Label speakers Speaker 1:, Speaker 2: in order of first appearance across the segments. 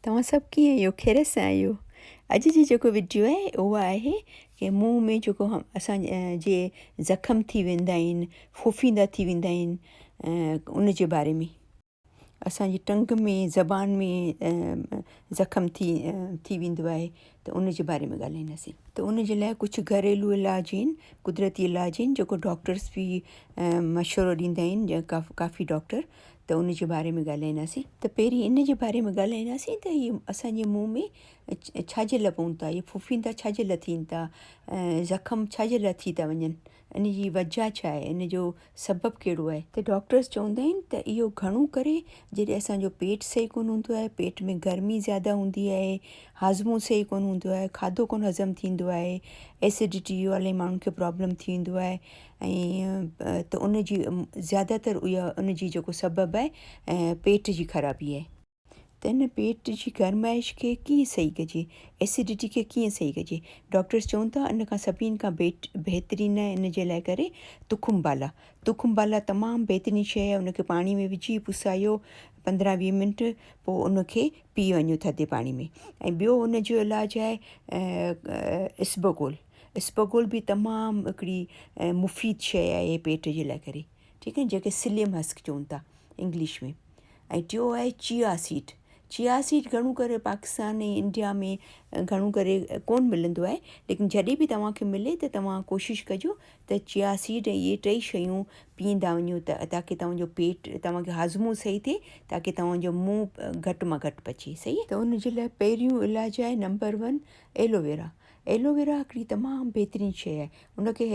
Speaker 1: توهان سڀ ڪيئن آهيو خيريت سان آهيو اڄ جي جيڪو وڊيو آهي اهو آهي ڪي منهن ۾ جيڪو اسان جي زخم ٿي ويندا آهن ڦڦيندا ٿي ويندا آهن ان جي باري ۾ اسان جي ٽنگ ۾ زبان ۾ زخم ٿي ٿي ويندو آهي ته ان جي باري ۾ ڳالهائينداسي ته ان جي لاء ڪجهه گهريلو علاج آهن قدرتي علاج آهن جيڪو ڊاڪٽرس بي مشورو ڏيندا آهن جيڪا ڪافي ڊاڪٽر ته ان جي باري ۾ ڳالهائينداسين ته پهرين ان جي باري ۾ ڳالهائينداسين ته هي اسان جي منهن ۾ ڇا جي لاء پون ٿا هي ڦڦيندا ڇا جي لاء ٿين ٿا زخم ڇا جي لاء ٿي ٿا وڃن ان جي وجهه ڇا آهي ان جو سبب ڪهڙو آهي ته ڊاڪٽرس چوندا آهن ته اهو گهڻو ڪري جڏهن اسان جو پيٽ صحيح ڪونه هوندو آهي پيٽ ۾ گرمي زياده هوندي آهي هاضمو صحيح ڪونه هوندو آهي کاڌو ڪونه هضم ٿيندو آهي ايسڊٽي جو الائي ماڻهن کي پرابلم ٿي ويندو آهي ۽ ته ان جي زياده تر اها ان جي جيڪو سبب آهي پيٽ جي خرابي آهي. ته ان پيٽ جي گرمائش کي ڪيئن صحيح ڪجي؟ ايسڊٽي کي ڪيئن صحيح ڪجي؟ ڊاڪٽرس چون ٿا ان کان سڀني کان بهترين آهي ان جي لاء ڪري تخم بالا. تخم بالا تمام بهترين شيء آهي ان کي پاڻي ۾ وجهي پسايو پندرهن ويهه منٽ پوء ان کي پي وڃو ٿڌي پاڻي ۾ ۽ ٻيو ان جو علاج آهي اسبگول. اسپغول به تمام هڪڙي مفيد شيء آهي پيٽ جي لاء ڪري ٺيڪ آهي جنهن کي سليم هسڪ چون ٿا انگلش ۾ ۽ ٽيو آهي چيا سيڊ چيا سيڊ گهڻو ڪري پاڪستان ۽ انڊيا ۾ گهڻو ڪري ڪون ملندو آهي ليڪن جڏهن به توهان کي ملي ته توهان ڪوشش ڪجو ته چيا سيڊ ۽ اهي ٽئي شيون پيئندا وڃو ته تاڪي توهان جو پيٽ توهان کي هاضمو صحيح ٿئي تاڪي توهان جو منهن گهٽ مان گهٽ پچي صحيح ته ان جي لاء پهريون علاج آهي نمبر ون ايلوويرا ايلوويرا هڪڙي تمام بهترين شيء آهي ان کي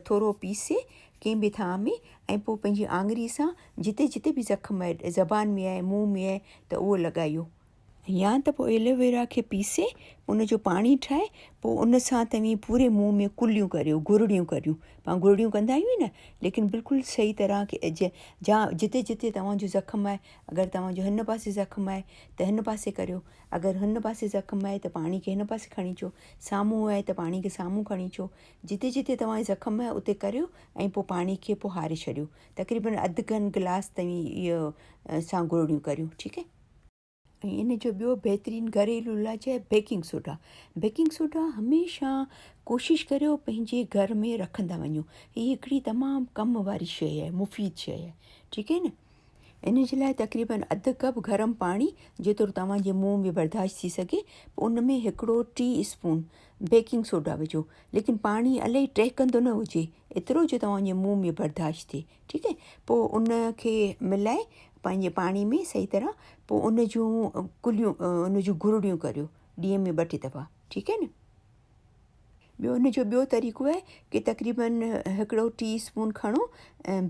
Speaker 1: ٿورو پيسي ڪنهن به ٿانء ۾ ۽ پوء پنهنجي آڱري سان جتي جتي به زخم آهي زبان ۾ آهي منهن ۾ آهي ته اهو لڳايو يا ته پوء ايلوويرا کي پيسي ان جو پاڻي ٺاهي پوء ان سان توهين پوري منهن ۾ ڪليون ڪريو گرڙيون ڪريون پان گرڙيون ڪندا آهيون ئي نه ليڪن بلڪل صحيح طرح جا جتي جتي توهان جو زخم آهي اگر توهان جو هن پاسي زخم آهي ته هن پاسي ڪريو اگر هن پاسي زخم آهي ته پاڻي کي هن پاسي کڻي اچو، سامهون آهي ته پاڻي کي سامهون کڻي اچو، جتي جتي توهان جي زخم آهي اتي ڪريو ۽ پوء پاڻي کي پوء هاري ڇڏيو، تقريبن اڌ گهن گلاس توهين اهو سان گرڙيون ڪريو ٺيڪ آهي. ۽ ان جو ٻيو بهترين گهريلو علاج آهي بيڪنگ سوڊا، بيڪنگ سوڊا هميشه ڪوشش ڪريو پنهنجي گهر ۾ رکندا وڃو، هي هڪڙي تمام ڪم واري شيء آهي مفيد شيء آهي ٺيڪ آهي نه. ان جي لاء تقريبن اڌ ڪپ گرم پاڻي، جيترو توهان جي منهن ۾ برداشت ٿي سگهي، پوء ان ۾ هڪڙو ٽي اسپون بيڪنگ سوڊا وجهو، ليڪن پاڻي الائي ٽهڪندو نه هجي، ايترو جو توهان جي منهن ۾ برداشت ٿئي، ٺيڪ آهي، پوء ان کي ملائي پنهنجي پاڻي ۾ صحيح طرح پوء ان جون ڪليون، ان جون گرڙيون ڪريو، ڏينهن ۾ ٻه ٽي دفعا، ٺيڪ آهي نه. ٻيو ان جو ٻيو طريقو آهي ڪي تقريباً هڪڙو ٽي اسپون کڻو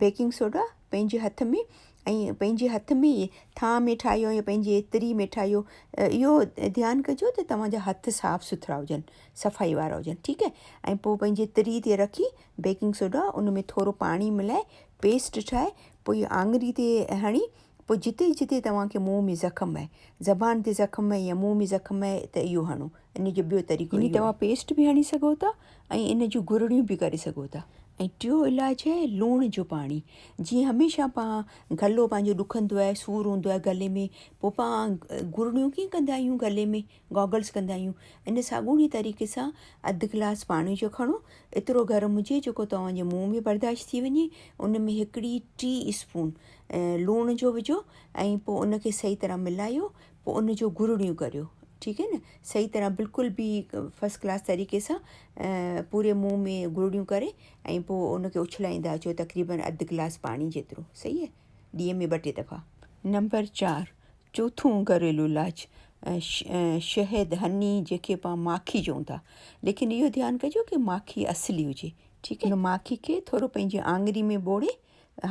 Speaker 1: بيڪنگ سوڊا پنهنجي هٿ ۾ ۽ پنهنجي هٿ ۾ ئي ٿانء ۾ ٺاهيو يا پنهنجي تري ۾ ٺاهيو اهو ڌيان ڪجو ته توهان جا هٿ صاف سٿرا هجن صفائي وارا هجن ٺيڪ آهي ۽ پوء پنهنجي تري تي رکي بيڪنگ سوڊا ان ۾ ٿورو پاڻي ملائي پيسٽ ٺاهي پوء آڱري تي هڻي پوء جتي جتي توهان کي منهن ۾ زخم آهي، زبان تي زخم آهي يا منهن ۾ زخم آهي ته اهو هڻو. ان جو ٻيو طريقو اهو آهي. يعني توهان پيسٽ به هڻي سگهو ٿا ۽ ان جون گرڙيون به ڪري سگهو ٿا. ۽ ٽيون علاج آهي لوڻ جو پاڻي. جيئن هميشه پان گلو پنهنجو ڏکندو آهي، سور هوندو آهي گلي ۾ پوء پان گرڙيون ڪيئن ڪندا آهيون گلي ۾ گاگلز ڪندا آهيون ان ساڳوڻي طريقي سان اڌ گلاس پاڻي جو کڻو ايترو گرم هجي جيڪو توهان جي منهن ۾ برداشت ٿي وڃي ان ۾ هڪڙي ٽي اسپون لوڻ جو وجهو ۽ پوء ان کي صحيح طرح ملايو پوء ان جو گرڙيون ڪريو ٺيڪ آهي نه صحيح طرح بلڪل به فرسٽ ڪلاس طريقي سان پوري منهن ۾ گرڙيون ڪري ۽ پوء ان کي اڇلائيندا اچو تقريبن اڌ گلاس پاڻي جيترو صحيح آهي ڏينهن ۾ ٻه ٽي دفعا نمبر چار چوٿون گهريلو علاج شهد هني جيڪي پا ماکي چون ٿا ليڪن اهو ڌيان ڪجو ڪي ماکي اصلي هجي ٺيڪ آهي ماکي کي ٿورو پنهنجي آڱري ۾ ٻوڙي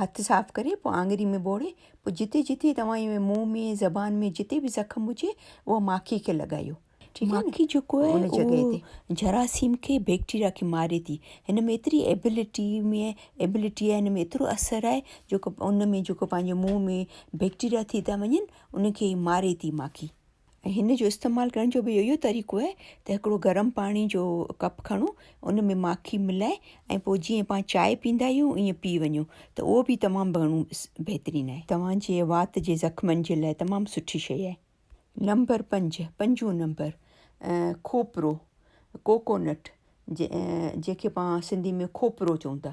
Speaker 1: هٿ صاف ڪري پوء آڱري ۾ ٻوڙي پوء جتي جتي توهان جي منهن ۾ زبان ۾ جتي به زخم هجي اها ماکي کي لڳايو ٺيڪ آهي ماکي جيڪو آهي ان جڳهه تي جراثيم کي بيڪٽيريا کي ماري ٿي هن ۾ ايتري ايبلٽي ۾ ايبلٽي آهي هن ۾ ايترو اثر آهي جيڪو ان ۾ جيڪو پنهنجي منهن ۾ بيڪٽيريا ٿي ٿا وڃن ان کي ماري ٿي ماکي. ۽ هن جو استعمال ڪرڻ جو به اهو ئي طريقو آهي ته هڪڙو گرم پاڻي جو ڪپ کڻو ان ۾ ماکي ملائي ۽ پوء جيئن پان چانهه پيندا آهيون ائين پي وڃو ته اهو به تمام گهڻو بهترين آهي توهان جي وات جي زخمن جي لاء تمام سٺي شيء آهي. نمبر پنج، پنجون نمبر، کوپرو، Coconut، جنهن کي پان سنڌي ۾ کوپرو چئون ٿا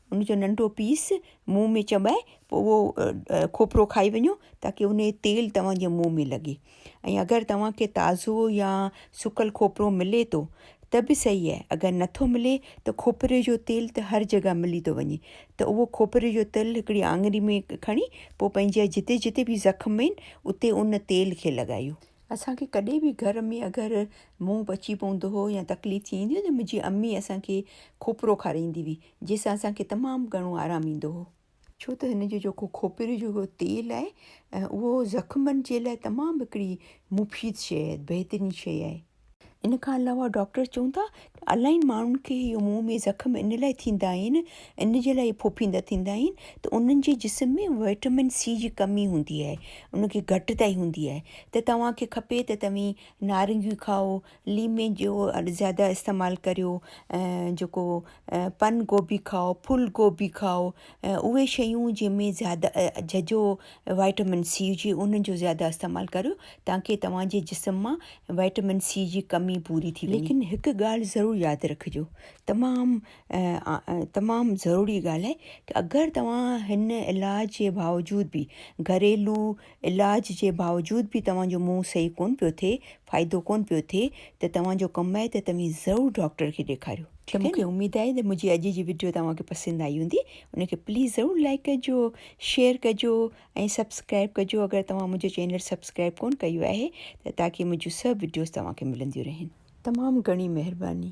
Speaker 1: ان جو ننڍو پيس منهن ۾ چٻائي پوء اهو کوپرو کائي وڃو تاڪي ان جو تيل توهان جي منهن ۾ لڳي ۽ اگر توهان کي تازو يا سڪل کوپرو ملي ٿو ته به صحيح آهي اگر نٿو ملي ته کوپري جو تيل ته هر جڳهه ملي ٿو وڃي ته اهو کوپري جو تيل هڪڙي آڱري ۾ کڻي پوء پنهنجي جتي جتي به زخم آهن اتي ان تيل کي لڳايو اسان کي ڪڏهن به گهر ۾ اگر منهن پچي پوندو هو يا تڪليف ٿي ويندي هئي ته منهنجي امي اسان کي کوپرو کارائيندي هئي جنهن سان اسان کي تمام گهڻو آرام ايندو هو. ڇو ته هن جو جيڪو کوپري جو هڪڙو تيل آهي اهو زخمن جي لاء تمام هڪڙي مفيد شيء بهترين شيء آهي. ان کان علاوه ڊاڪٽر چون ٿا ته الاهين ماڻهن کي اهي منهن ۾ زخم ان لاء ٿيندا آهن ان جي لاء ڦڦيندا ٿيندا آهن ته انهن جي جسم ۾ وٽامن سي جي ڪمي هوندي آهي ان کي گهٽتائي هوندي آهي ته توهان کي کپي ته توهين نارنگيون کائو ليمي جو زياده استعمال ڪريو ۽ جيڪو پن گوبي کائو ڦل گوبي کائو اهي شيون جنهن ۾ زياده ججهو وائٽامن سي هجي انهن جو زياده استعمال ڪريو تانڪه توهان جي جسم مان وائٽامن سي جي ڪمي پوري ٿي وڃي. ليڪن هڪ ڳالهه ضرور ياد رکجو تمام تمام ضروري ڳالهه اگر توهان هن علاج جي باوجود به گهريلو علاج جي باوجود به توهان جو منهن صحيح ڪونه پيو ٿئي، فائدو ڪونه پيو ٿئي ته توهان جو ڪم آهي ته توهين ضرور ڊاڪٽر کي ڏيکاريو. ته مون کي اميد آهي ته منهنجي اڄ جي وڊيو توهان کي پسند آئي هوندي، ان کي پليز ضرور لائيڪ ڪجو، شيئر ڪجو ۽ سبسڪرائيب ڪجو اگر توهان منهنجو چينل سبسڪرائيب ڪونه ڪيو آهي ته تاڪي منهنجون سڀ وڊيوز توهان کي ملنديون رهن. تمام گهڻي مهرباني.